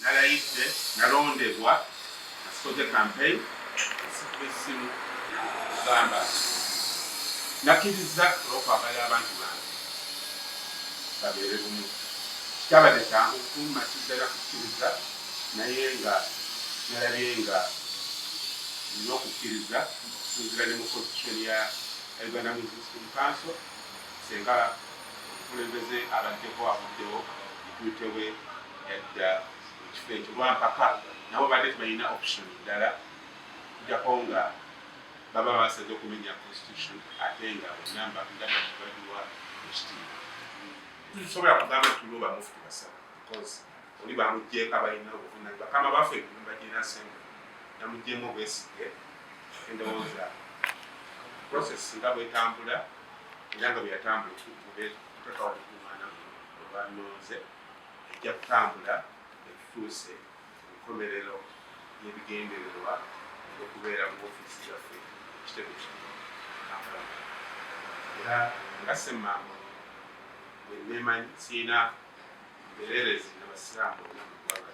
Nalayidde, nalondebwa, nga sikoze campaign, nga sikuba essimu, okugamba nti nakkirizza olw'okwagala abantu bange babeere bumu. Kitabadde kyangu kukummaki ddala kukkiriza, naye nga nalabye nga nina okukkiriza okusinziira ne mu constitution ya Uganda Muslim Council, ssenga omukulembeze abaddeko avuddewo, Deputy we. yadda mu kifo ekyo lwampaka nabo badde tebalina option ddala kujako nga baba basaze okumenya constitution ate nga onamba ndabaiwa ekitiibwa tusobola kugamba tuloba mufuti basaba because oli bamugjeeko abalina obuvunani bakama baffe enyumba gyenasembe namugjeemu obwesige endowooza process nga bwetambula era nga bweyatambula tuteekawo okukumaana olwanonze ejja kutambula etutuuse ku nkomerero y'ebigendererwa okubeera mu ofiisi yaffe ekitebe kino kampala era nga semmambo bwe neemanyi sirina mbereerezi na basiraamu bonna mu ggwanga